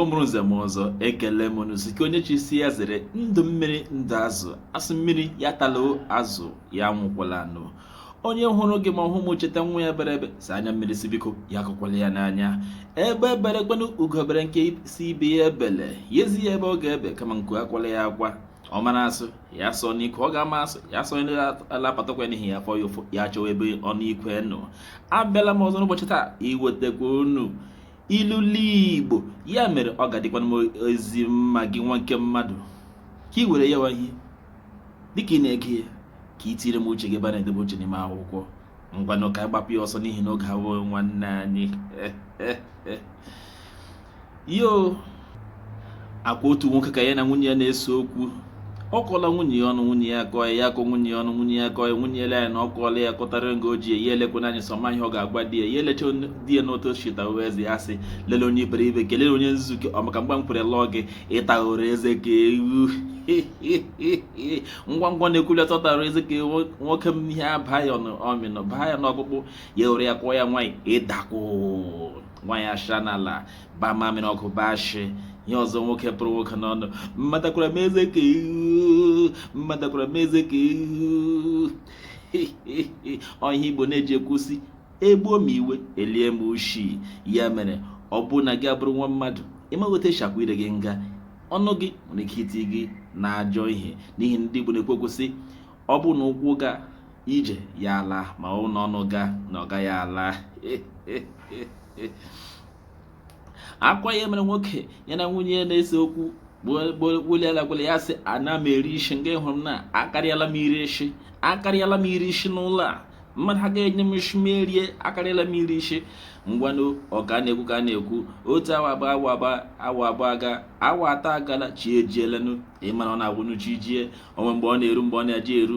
ọ mụrụ nze mụọ ọzọ ekele m unu sị nke onye chisi ya zere ndụ mmiri ndụ azụ a sị mmiri ya atala azụ ya anwụkwala anwụ onye hụrụ gị ma ọhụ m cheta nwa ya bere ebe si anya mmiri sị biko ya akụkwala ya n'anya egbe bere kwenụ ugo bere nke sị ibe ya ebele ya ezi ya ebe ọ ga-ebe kama nku akwala ya akwa ọ mara asụ ya sụọ n'ikwe ọ ga-ama asụ ya sụọ n'ala apata ụkwụ n'ihi ya fụọ ya ụfụ ya chọwa ebe ọnụ ikwe nọ abịala m ọzọ n'ụbọchị taa iwetekwa unu ilulu igbo ya mere ọ ga-adịkwanụ m ezi mma gị nwa nke mmadụ ka ị were ya wahi dịka ị na-ege ya ka ị tiiri m uche gị ebe a na-edebe uche n'ime akwụkwọ ngwanụ ka anyị gbapụ ya ọsọ n'ihi na oge awụghị nwanne anyị yo ọ kwa otu nwoke ka ya na nwunye ya na-ese okwu ọ kọọla nwunye ya ọnụ nwunye ya akọọ ya akọọ nwunye ya ọnụ nwunye ya akọọ ya nwunye ya elee ya na ọ kọọla ya kọtara nga o ji ya elekwana anyị sọma ihe ọ ga-agwa di ya ya elecha di ya n'otu chita uwe eze ya sị lele onye iberibe ke lele onye nzuke ọ maka mgbe m kwere lụọ gị ị taghoro eze ka ewu ngwa ngwa na-ekwuleta ọ tara eze ka nwoke m ihe abaa ya n'ọmị baa ya n'ọkpụkpụ ya were ya kụọ ya nwaanyị ịdakwụ nwaanyị asha n'ala baa mamịrị ọkụ baa nshị ihe ọzọ nwoke pụrụ nwoke n'ọnụ mụ atakwara m eze ka ewu mụ atakwara m eze ka ewu ọ ihe igbo na-eji ekwu sị egbuo ma iwe elie ma ushi ya mere ọ bụ na gị abụrụ nwa mmadụ ị maghị otu e shi akwa ire gị nga ọnụ gị nwere ike iti gị n'ajọ ihe n'ihi ndị igbo na-ekwu okwu sị ọ bụ na ụkwụ gaa ije ya ala ma ọ bụ na ọnụ gaa na ọ gaghị ala ọ kwa ya mere nwoke ya na nwunye ya na-ese okwu gbulielagwele ya sị ana m eri ishi nga ị hụrụ na akarịala m iri ishi akarịala m iri ishi n'ụlọ a mmadụ ha ga-enye m isi m erie akarịala m iri ishi ngwanụ ọ ka na-ekwu ka na-ekwu otu awa awa abụọ aga awa atọ agala chi ejielenụ ị mara ọ na-agwụnụ chi jie o nwe mgbe ọ na-eru mgbe ọ na-eji eru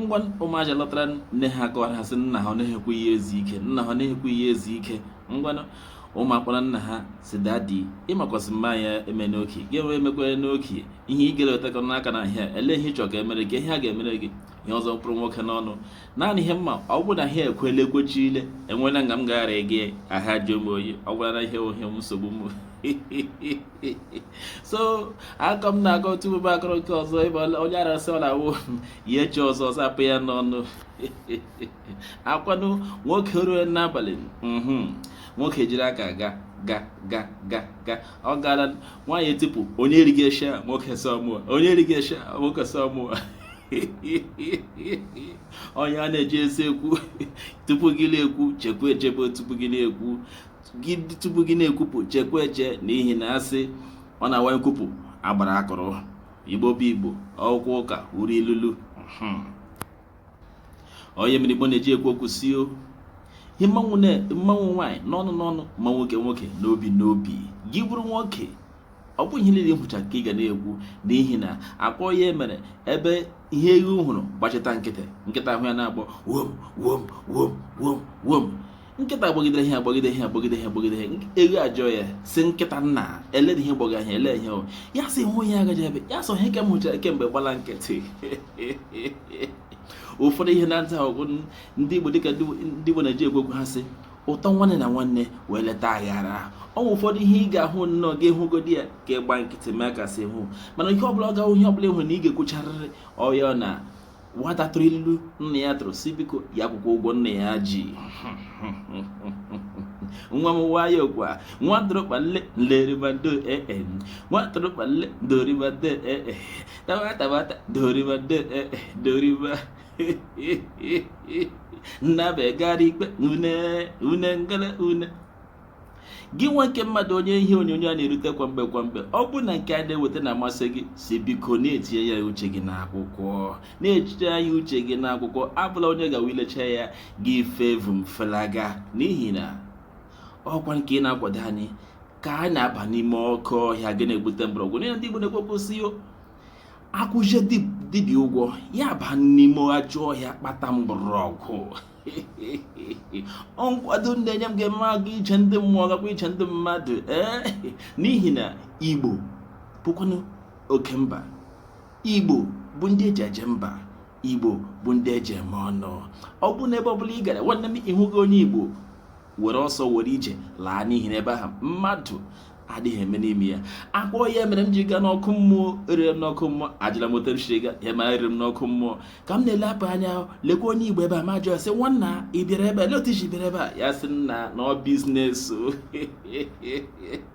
ngwa ụmụaka lọtara nne ha kọwara ha sị nna ha ọ na-ewekwa iwe ezi ike nna ha ọ na-ewekwa iwe ezi ike ngwanụ ụmụ akpọrọ nna ha sị daddy ị makwa sị mma ya eme n'oke gị enwe emekwa n'oke ihe ị gere wetakọ n'aka na ahịa ele ihe ị chọ ka e mere gị ihe a ga-emere gị ihe ọzọ pụrụ nwoke n'ọnụ naanị ihe m ma ọ bụrụ na ha ekwele ekwechi ile enwela nga m gaghara gị ahụ ajụọ m oyi ọ gwara na ihe ohe m nsogbu m so akọ m na-akọ tupu m akọrọ nke ọzọ ebe onye arasị ọ na-awụ ihe chi ọzọ zapụ ya n'ọnụ akwanụ nwoke ruo n'abalị mhm. nwoke jiri aka ga ga ga ga ga ọ gara nwaanyị etipụ onye erighị eshi a nwoke sọ mụọ onye erighị eshi a nwoke sọ mụọ onye a na-eji ezi ekwu tupu gị na-ekwu chekwa echebe tupu gị na-ekwu gị tupu gị na-ekwupụ chekwa eche n'ihi na asị ọ na-awa nkwupụ agbara akụrụ igbo bụ igbo okwu ụka uru ilulu hmm. ọ ya mere igbo na-eji ekwu okwu sị o ihe mmanwụ nwaanyị n'ọnụ n'ọnụ ma nwoke nwoke n'obi n'obi gị bụrụ nwoke ọ bụghị ihe niile ị hụcha ka ị ga na-ekwu n'ihi na akpọ ya mere ebe ihe ewu hụrụ gbachita nkịtị nkịta hụ ya na-agbọ wom wom wom wom wom nkịta agbagidere ihe agbagide ihe agbagide ihe agbagide ihe ewu ajụọ ya sị nkịta nna elere ihe gbọga ihe ele ihe ya sị hụ ihe agaji ebe ya sị ọ ihe ka m hụchara kemgbe gbala nkịtị ụfọdụ ihe na-ata ọgụ ndị Igbo dịka ndị Igbo na-eji ekwu ha sị ụtọ nwanne na nwanne wụ eleta aghara o nwe ụfọdụ ihe ị ga-ahụ nnọọ gị hụgodi ya ka ị gba nkịtị mee kasị hụ mana ihe ọbụla ọ ga ihe ọbụla ị hụ na ị ga-ekwucharịrị ọ ya na nwata tụrụ ilu nna ya tụrụ sị biko ya kwụkwa ụgwọ nna ya ji nwa m nwayọ kwa nwa tụrụkpa nle nleribado ee e. nwa tụrụkpa nle doribado ee e. taba tabata doribado ee e. doriba nnabe gara ikpe une une ngele une gị nwa nke mmadụ onye ihe onyonyo a na-erute kwa mgbe kwa mgbe ọ bụrụ na nke a na-eweta na-amasị gị sị biko na-etinye ya uche gị n'akwụkwọ na-etinye ya uche gị n'akwụkwọ abụla onye gawa ilecha ya gị efe vum felaga n'ihi na ọkwa nke ị na-akwado anyị ka a na-aba n'ime oke ọhịa gị na-egbute mgbọrọgwụ n'ihi na ndị Igbo na-ekwupụ sị a kwụcha dibịa ụgwọ ya ba n'ime ajọ ọhịa kpata mgbọrọgwụ nkwado ị na-enye m ga-eme aga ije ndị mmụọ gakwa ije ndị mmadụ ee n'ihi na igbo bụkwanụ oke mba igbo bụ ndị eji eje mba igbo bụ ndị eji eme ọnụ ọ bụrụ na ebe ọbụla ị gara nwanne m ị hụghị onye igbo were ọsọ were ije laa n'ihi na ebe ahụ mmadụ adịghị eme n'ime ya akpọ ya mere m ji gaa n'ọkụ mmụọ eruru m n'ọkụ mmụọ ajụla m otu m siri ga ya ma eruru m n'ọkụ mmụọ ka m na-elepụ anya lekwa onye igbo ebe a m ajụọ sị nwanna ị bịara ebe a lee otu i si bịara ebe a ya sị nna na ọ biznes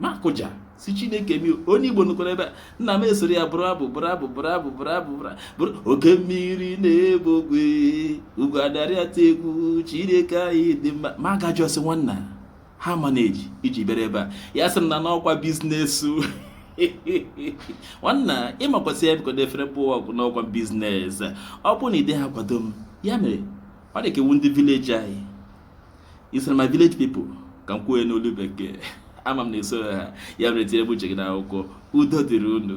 m akụja sị chineke mi onye igbo nọkwara ebe a nna m esoro ya bụrụ abụ bụrụ abụ bụrụ abụ bụrụ abụ bụrụ oke mmiri na-ebu ogwe ugwu adarịata egwu chineke anyị dị mma m aga jụọ sị nwanna ha ma na-eji i ji bịara ebe a ya sị m na n'ọkwa business nwanna ịmakwasị ya bikọdo efere bụ ọgwụ n'ọkwa business ọ bụ na ide ha kwado m ya mere ọ dị ka ị wụ ndị village anyị i soro my village people ka m kwuo n'olu bekee ama m na i so ha ya mere tinyere m uche gị n'akwụkwọ udo dịrị unu